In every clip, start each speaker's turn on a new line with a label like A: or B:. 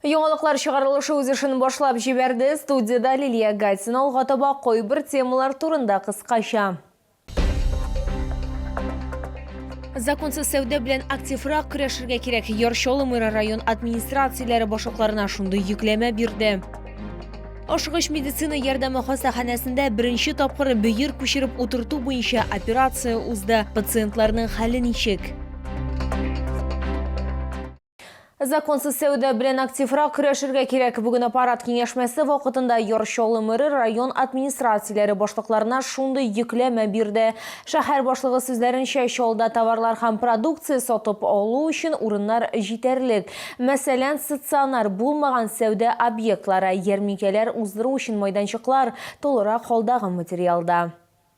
A: Яңалыклар чыгарылышы үз эшен башлап җибәрде. Студиядә Лилия Гатина алга таба кайбер темалар турында кыскача. Законсыз сәүдә белән активрак көрәшергә кирәк. Яр Чаллы район администрацияләре башлыкларына шундый йөкләмә бирде. Ашыгыч медицина ярдәме хастаханәсендә беренче тапкыр бөер күчереп утырту буенча операция узды. Пациентларның хәле ничек? Законсыз сәүдә белән активрак көрәшергә кирәк. Бүген аппарат киңәшмәсе вакытында Яр Чаллы мэры район администрацияләре башлыкларына шундый йөкләмә бирде. Шәһәр башлыгы сүзләренчә, Чаллыда товарлар һәм продукция сатып алу өчен урыннар җитәрлек. Мәсәлән, стационар булмаган сәүдә объектлары, ярминкәләр уздыру өчен майданчыклар, тулырак халдагы материалда.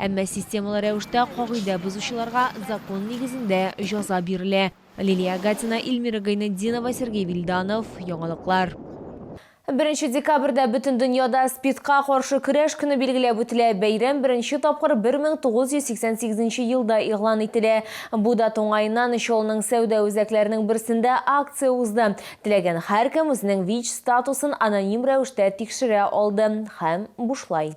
A: Әмма системалы рәвештә кагыйдә бозучыларга закон нигезендә җаза бирелә. Лилия Агатина, Ильмира Гайнетдинова, Сергей Вильданов, Яңалыклар. Беренче декабрьдә бөтен дөньяда СПИДка каршы көрәш көне билгеләп үтелә. Бәйрәм беренче тапкыр 1988 нче елда игълан ителә. Бу дата уңаеннан Чаллының сәүдә үзәкләренең берсендә акция узды. Теләгән һәркем үзенең ВИЧ статусын аноним рәвештә тикшерә алды һәм бушлай.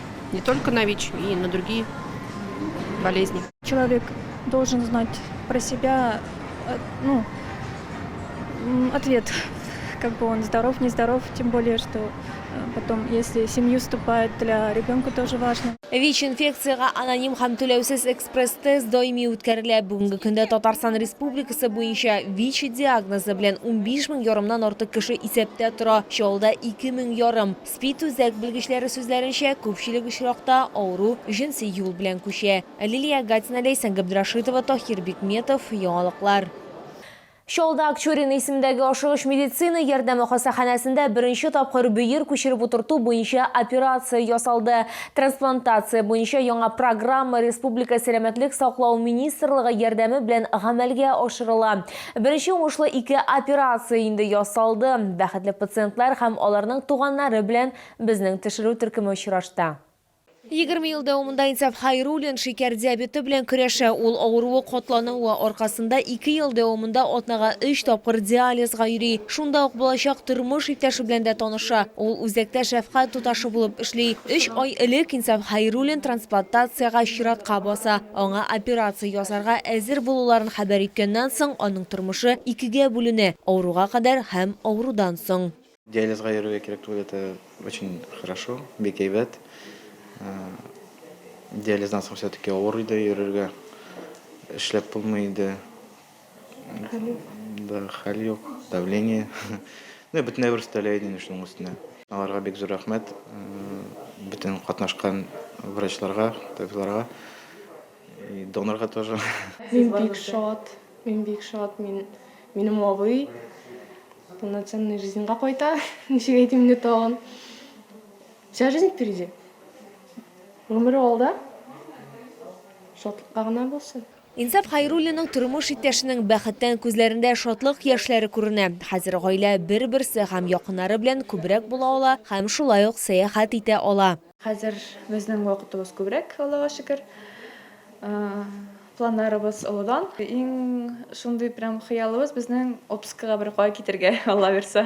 B: не только на вич и на другие болезни человек
C: должен знать про себя э, ну ответ как бы он здоров не здоров тем более что э, потом если семью вступает для ребенка тоже важно Вич инфекцияга
A: аноним һәм түләүсез экспресс-тест даими үткәрелә. Бүгенге көндә Татарстан Республикасы буенча ВИЧ диагнозы белән 15 мең ярымнан артык кеше исәптә тора. Чалда 2 мең ярым. Спи-Түзәк белгечләре сүзләренчә, күпчелек очракта авыру җенси юл белән күчә. Лилия Гатина, Ләйсән Габдрашитова, Таһир Бикметов, Яңалыклар. Чаллыда Акчурин исемендәге ашыгыч медицина ярдәме хастаханәсендә беренче тапкыр бөер күчереп утырту буенча операция ясалды. Трансплантация буенча яңа программа республика сәламәтлек саклау министрлыгы ярдәме белән гамәлгә ашырыла. Беренче уңышлы ике операция инде ясалды. Бәхетле пациентлар һәм аларның туганнары белән безнең тешерү төркеме очрашты. Егерме ел дәвамында Инсаф Хәйруллин шикәр диабеты белән көрәшә. Ул авыруы катлануы аркасында ике ел дәвамында атнага өч тапкыр диализга йөри. Шунда ук булачак тормыш иптәше белән дә таныша. Ул үзәктә шәфкать туташы булып эшли. Өч ай элек Инсаф Хәйруллин трансплантациягә чиратка баса. Аңа операция ясарга әзер булуларын хәбәр иткәннән соң, аның тормышы икегә бүленә, авыруга кадәр һәм авырудан соң. Диализга йөрергә
D: кирәк түгел, это очень хорошо, бик әйбәт. Диализдан соң все-таки авыр иде йөрергә, эшләп булмый иде. Хәл юк. Да, хәл юк. Давление. Ну, бөтенләй бер өстәлә иде инде шуның өстенә. Аларга бик зур рәхмәт. Бөтен катнашкан врачларга, табибларга. И донорга тоже. Мин бик
E: шат. Мин бик шат. Мин минем абый полноценный жизньга кайта. Ничек әйтим инде тагын? Вся жизнь впереди. Гомере алда. Шатлыкка гына булсын. Инсаф Хәйруллинның
A: тормыш иптәшенең бәхеттән күзләрендә шатлык яшьләре күренә. Хәзер гаилә бер-берсе һәм якыннары белән күбрәк була ала һәм шулай ук сәяхәт итә ала. Хәзер
C: безнең вакытыбыз күбрәк, Аллага шөкер. Планнарыбыз олыдан. Иң шундый прям хыялыбыз безнең отпускага беркая китергә, Алла бирса.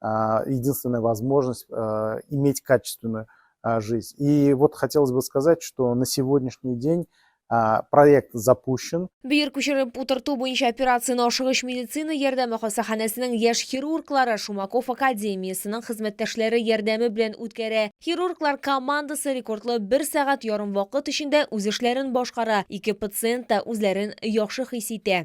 F: а, единственная возможность а, иметь качественную а, жизнь. И вот хотелось бы сказать, что на сегодняшний день а, проект запущен. Бөер күчереп
A: утырту буенча операцияне ашыгыш медицина ярдәме хастаханәсенең яшь хирурглары Шумаков академиясенең хезмәттәшләре ярдәме белән үткәрә. Хирурглар командасы рекордлы бер сәгать ярым вакыт эчендә үз эшләрен башкара. Ике пациент та үзләрен яхшы хис итә.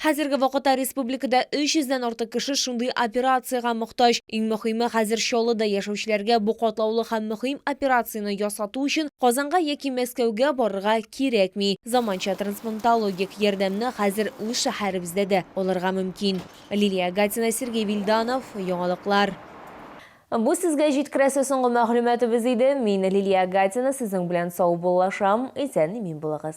G: Хәзерге вакытта
A: республикада 300 дән артык кеше шундый операциягә мохтаҗ. Иң мөхиме, хәзер Чаллыда яшәүчеләргә бу катлаулы һәм мөхим операцияне ясату өчен Казанга яки Мәскәүгә барырга кирәкми. Заманча трансплантологик ярдәмне хәзер үз шәһәребездә дә алырга мөмкин. Лилия Гатина, Сергей Вильданов, Яңалыклар. Бу сезгә җиткерәсе соңгы мәгълүматыбыз иде. Мин, Лилия Гатина, сезнең белән саубуллашам. Исән-имин булыгыз.